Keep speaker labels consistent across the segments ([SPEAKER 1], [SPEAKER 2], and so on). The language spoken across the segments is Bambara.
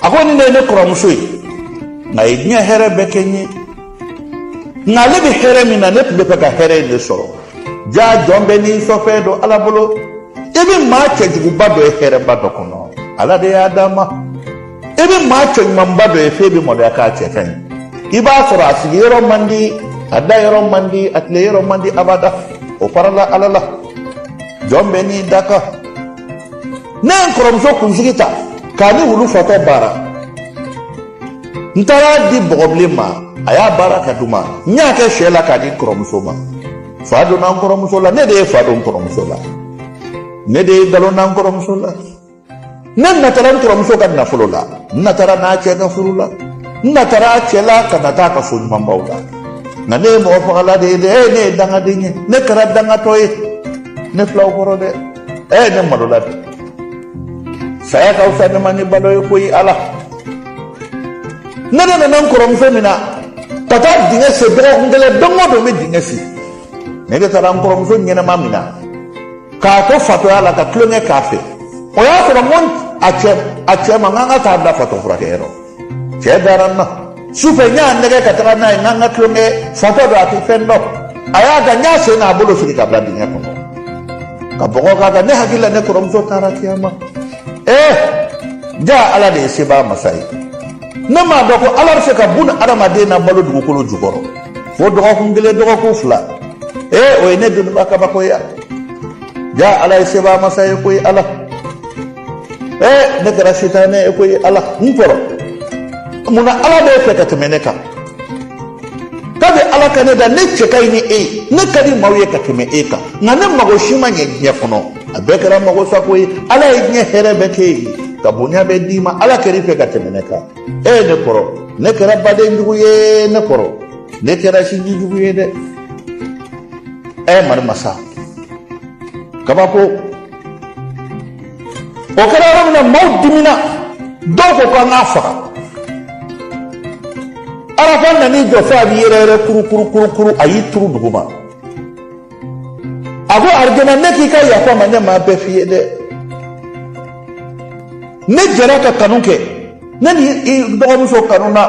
[SPEAKER 1] a ko nin de ye ne kɔrɔmuso ye nka a ye diɲɛ hɛrɛ bɛɛ kɛ n ye nka ale bɛ hɛrɛ min na ne tun b'a fɛ ka hɛrɛ in de sɔrɔ jaa jɔn bɛɛ n'i sɔfɛn don ala bolo i bɛ maa cɛjuguba dɔ ye hɛrɛba dɔ kɔnɔ ala de y'a d'a ma i bɛ maa cɛɲumanba dɔ ye f'e bɛ maloya k'a cɛ ka ɲi i b'a sɔrɔ a sigiyɔrɔ man di a dayɔrɔ man di a tileyɔrɔ man di abada o farala ala la jɔn bɛɛ n'i dakan ne ye n kɔrɔmuso kunsigi ta k'a ni wulu fatɔ baara n taar'a di bɔgɔbilen ma a y'a baara k'a di n ma n y'a kɛ sɛ la k'a di n kɔrɔmuso ma fa donna n kɔrɔmuso la ne de ye fa don n kɔrɔmuso la ne de ye nkalon da n kɔrɔmuso la ne natara n kɔrɔmuso ka nafolo la n natara a n'a cɛ ka furu la n natara a cɛ la ka nata a ka so ɲumanbaw la nka ne ye mɔgɔ fagala de ye dɛ ee ne ye dangaden ye ne kɛra dangatɔ ye ne fil'aw kɔrɔ dɛ ɛ ne malola bi saya ka fisa ne ma ni balo ye koyi ala ne de nana n kɔrɔmuso mina ka taa dingɛ sen dɔgɔkun kelen don o don n bɛ dingɛ sen ne de taara n kɔrɔmuso ɲɛnama mina k'a to fatɔya la ka tulonkɛ k'a fɛ o y'a sɔrɔ n ko a cɛ ma n k'an ka taa a bila fatɔ furakɛyɔrɔ cɛ dara n na sufɛ n y'a nɛgɛn ka taga n'a ye n k'an ka tulonkɛ fatɔ don a tɛ fɛn dɔn a y'a da n y'a sen n'a bolo siri k'a bila dingɛ kɔnɔ ka bɔgɔ k'a kan ne hakili la ne kɔrɔmuso taara kiyama ee jaa ala de ye sebaa masa ye ne m'a dɔn ko ala bɛ se ka bunu adamaden nabalo dugukolo jukɔrɔ fo dɔgɔkun kelen dɔgɔkun fila ee o ye ne doniba kabakoya jaa ala ye sebaa masa ye koyi ala ne kɛra sitanɛ ye koyi ala n kɔrɔ mun na ala b'e fɛ ka tɛmɛ ne kan kabi ala ka ne da ne cɛ ka ɲi ni e ye ne ka di maaw ye ka tɛmɛ e kan nka ne mago si ma ɲɛ diɲɛ kɔnɔ a bɛɛ kɛra magosako ye ala ye diɲɛ hɛrɛ bɛɛ k'e ye ka bonya bɛɛ d'i ma ala kɛr'i fɛ ka tɛmɛ ne kan ɛ ne kɔrɔ ne kɛra baden jugu ye ne kɔrɔ ne kɛra sinji jugu ye dɛ ɛ mari masa kabako o kɛra yɔrɔ min na maaw dimina dɔw ko k'an k'a faga arafa nan'i jɔ fo a b'i yɛrɛyɛrɛ kurukurukurukuru a y'i turu duguma a ko arijana ne k'i ka yafa n ma ne m'a bɛɛ f'i ye dɛ ne jɛra ka kanu kɛ ne ni i dɔgɔmuso kanuna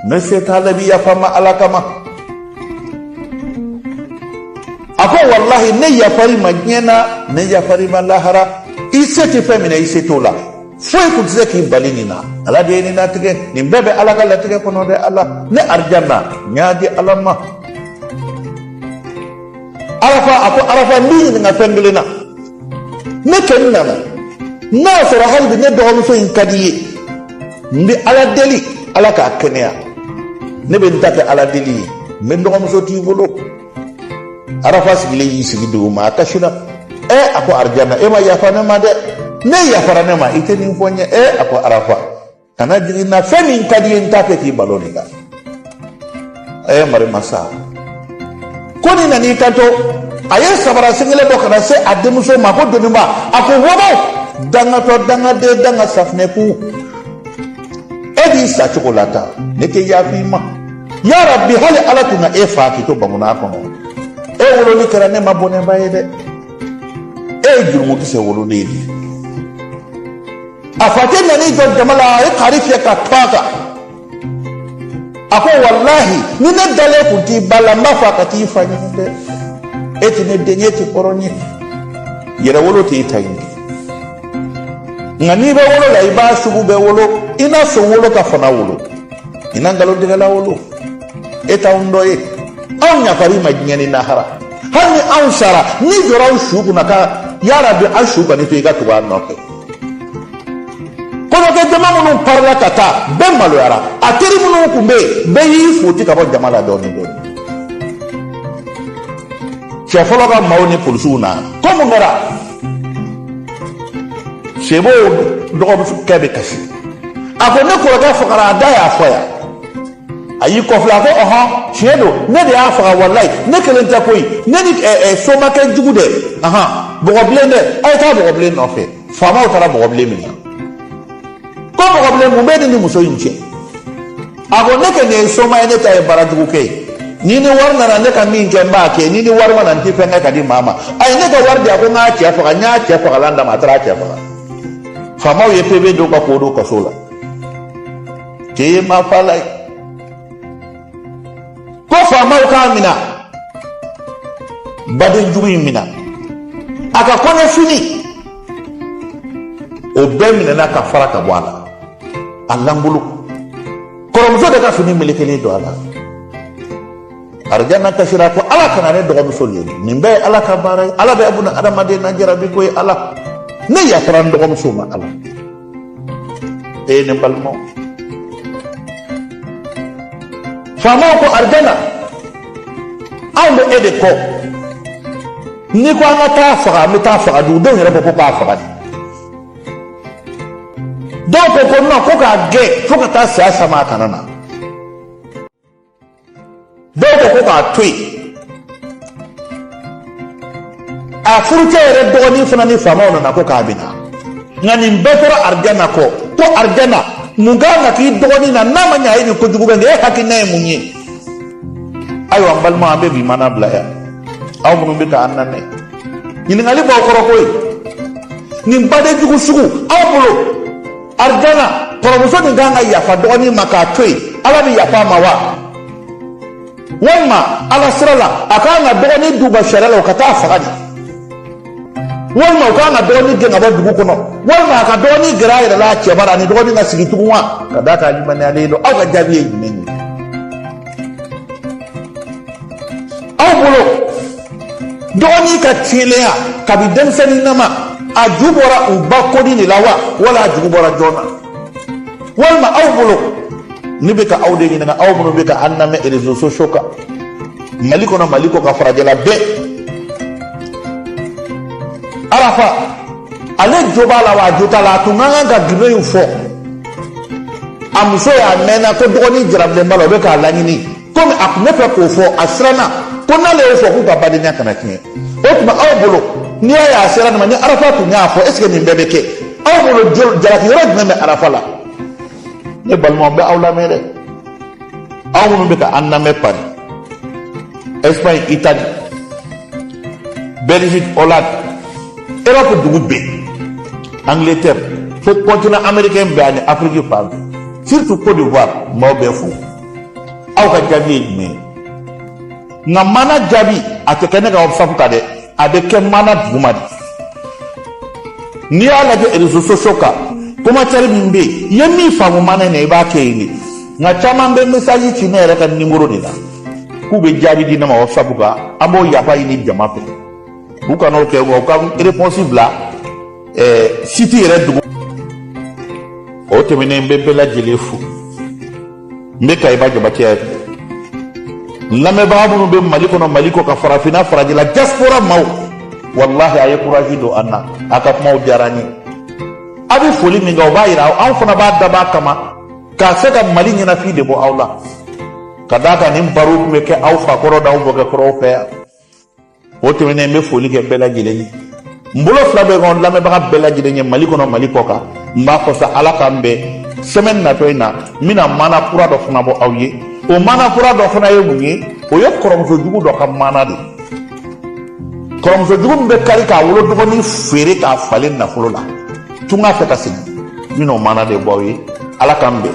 [SPEAKER 1] ne se t'a la bi yafa n ma ala kama a ko walahi ne yafar'i ma diɲɛ na ne yafar'i ma lahara i se tɛ fɛn min na i se t'o la foyi kun tɛ se k'i bali nin na ala de ye nin latigɛ nin bɛɛ bɛ ala ka latigɛ kɔnɔ dɛ ala ne arijana n y'a di ala ma arafa a ko arafa n b'i ɲininka fɛn kelen na ne kɛ n nana n'a sɔrɔ hali bi ne dɔgɔmuso in ka di ye n bɛ ala deli ala k'a kɛnɛya ne bɛ n ta kɛ ala deli ye n bɛ n dɔgɔmuso t'i bolo arafa sigilen y'i sigi dugu ma a kasira ɛ a ko arijana e ma yafa ne ma dɛ n'e yafara ne ma i tɛ nin fɔ n ye ɛ a ko arafa kana jigi n na fɛn min ka di i ye n t'a fɛ k'i balo nin kan a ye marima sa ko nin nan'i kanto a ye sabara sen kelen bɔ ka na se a denmuso ma ko doniba a ko wɔbɔ dangatɔ dangaden danga safinɛ ku e b'i sa cogo la ta ne tɛ yaf'i ma ya rabbi hali ala tun ka e fa k'i to banguna kɔnɔ e wololi kɛra ne ma bɔnɛba ye dɛ e ye jurumukisɛ wololen de ye a facɛ nan'i jɔ jama la a ye kaari fiyɛ ka tu a kan a ko walahi ni ne dalen kun t'i ba la n b'a fɔ a ka t'i fa ɲini dɛ e tɛ ne den ye i tɛ hɔrɔn ye yɛrɛwolo tɛ e ta in kɛ nka n'i bɛ wolo la i b'a sugu bɛɛ wolo i na son wolo ka fana wolo i na nkalontigɛla wolo e t'anw dɔ ye anw ɲafari ma diɲɛ ni lahara hali ni anw sara n'i jɔra anw su kunna ka yarabi an su ka n'i fa i ka tugu an nɔfɛ kɔɲɔkɛ jama minnu parila ka taa bɛɛ maloyara a teri minnu tun bɛ yen bɛɛ y'i foti ka bɔ jama la dɔɔni dɔɔni cɛ fɔlɔ ka maaw ni polisiw na ko mun kɛra sebo dɔgɔkɛ bɛ kasi a ko ne kɔrɔkɛ fagara a da y'a fɔ yan a y'i kɔ filɛ a ko ɔhɔn tiɲɛ don ne de y'a faga walayi ne kelen tɛ koyi ne ni ɛɛ ɛɛ somakɛ jugu dɛ ahan bɔgɔbilen dɛ a ye taa bɔgɔbilen nɔfɛ faamaw taara bɔgɔbilen minɛ ko bɔgɔbilen mun bɛ e ni muso in cɛ a ko ne kɛ ne ye soma ye ne ta ye baara jugu kɛ ye n'i ni wari nana ne ka min kɛ n b'a kɛ n'i ni wari ma na n tɛ fɛn kɛ ka di maa ma a ye ne ka wari di a ko n k'a cɛ faga n y'a cɛ fagalan d'a ma a taara a cɛ faga faamaw ye pebe don ka k'o don kaso la k'e ye maafala ye ko faamaw k'a minɛ badenjugu in minɛ a ka kɔɲɔfini o bɛɛ minɛna ka fara ka bɔ a la a lankolon kɔrɔmuso de ka fini melekelen don a la arijana kasira ko ala kana ne dɔgɔmuso lebu nin bɛɛ ye ala ka baara ye ala bɛ buna adamaden na jarabi ko ye ala ne yafara n dɔgɔmuso ma ala ɛ ne balima faamaw ko arijana anw bɛ e de kɔ n'i ko an ka t'a faga an bɛ t'a faga dugudenw yɛrɛ ko ko k'a faga de dɔw ko ko nɔn ko k'a gɛn fo ka taa saya s'a ma a kana na dɔw ko ko k'a to yen a furucɛ yɛrɛ dɔgɔnin fana ni faamaw nana ko k'a bɛ na nka nin bɛɛ tora arijana kɔ ko arijana mun ka kan ka k'i dɔgɔnin na n'a ma ɲɛ a ye nin kojugu kɛ nin e hakilina ye mun ye ayiwa n balima an bɛ bi mana bila yan aw minnu bɛ k'an lamɛn ɲininkali b'aw kɔrɔ koyi nin baden jugu sugu aw bolo arijana kɔrɔmuso nin kan ka yafa dɔgɔnin ma k'a to yen ala bɛ yafa a ma wa walima ala sira la a kan ka dɔgɔnin d'u ma sariya la u ka taa a faga de walima u kan ka dɔgɔnin gɛn ka bɔ dugu kɔnɔ walima a ka dɔgɔnin gɛrɛ a yɛrɛ la a cɛ bara ani dɔgɔnin ka sigi tugun wa ka d'a kan limaniyalen don aw ka jaabi ye jumɛn ye aw bolo dɔgɔnin ka tiɲɛlenya kabi denmisɛnninama a ju bɔra u ba kodi de la wa wala a jugu bɔra jɔn na walima aw bolo ne bɛ ka aw de ɲininka aw minnu bɛ ka an lamɛn réseaux sociaux kan mali kɔnɔ mali kɔkan farajɛla bɛɛ arafa ale jo b'a la wa a jo t'a la a tun ka kan ka gindo in fɔ a muso y'a mɛnna ko dɔgɔnin jarabilen b'a la o bɛ k'a laɲini komi a tun bɛ fɛ k'o fɔ a siranna ko n'ale y'o fɔ k'u ka badenya kana tiɲɛ o tuma aw bolo n'i y'a ye a sera nin ma ni arafa tun y'a fɔ est ce que nin bɛɛ bɛ kɛ aw bolo jalaki yɔrɔ jumɛn bɛ arafa la ne balimaw bɛ aw lamɛn dɛ aw minnu bɛ ka an lamɛn paris espagne italie belgique hollande europe dugu bɛɛ angleterre fo continent américain bɛɛ ani afrique fan bɛɛ surtout côte d'ivoire maaw bɛɛ fo aw ka jaabi ye jumɛn ye nka mana jaabi a tɛ kɛ ne ka whatsapp kan dɛ a bɛ kɛ mana duguma de n'i y'a lajɛ réseaux sociaux kan commentaire min bɛ yen i ye min faamu mana in na i b'a kɛ yen de nka caman bɛ message ci ne yɛrɛ ka nimoro de la k'u bɛ jaabi di ne ma whatsapp kan an b'o yafa ɲini jama fɛ u kana o kɛ wa u ka réponse bila ɛɛ site yɛrɛ dugu o tɛmɛnen n bɛ bɛɛ lajɛlen fo n bɛ kayiba jabatɛ ye lamɛnbaga minnu bɛ mali kɔnɔ mali kɔkan farafinna farajɛla diaspora maaw walahi a ye kurazi don an na a ka kumaw diyara an ye a bɛ foli min kɛ o b'a yira anw fana b'a dab'a kama ka se ka mali ɲɛnafin de bɔ aw la ka d'a kan nin baro tun bɛ kɛ aw fakɔrɔ n'aw mɔkɛkɔrɔw fɛ yan o tɛmɛnen n bɛ foli kɛ bɛɛ lajɛlen ye n bolo fila bɛ n kɔ lamɛnbaga bɛɛ lajɛlen ye mali kɔnɔ mali kɔkan n b'a fɔ sa ala k'an bɛn semaine natɔ in na n bɛna mana kura dɔ fana bɔ aw ye o mana kura dɔ fana ye mun ye o ye kɔrɔmuso jugu dɔ ka mana de kɔrɔmuso jugu min bɛ kari k'a wolo dɔgɔnin feere k'a falen nafolo la tunga fɛ ka segin n bɛna o mana de bɔ aw ye ala k'an bɛn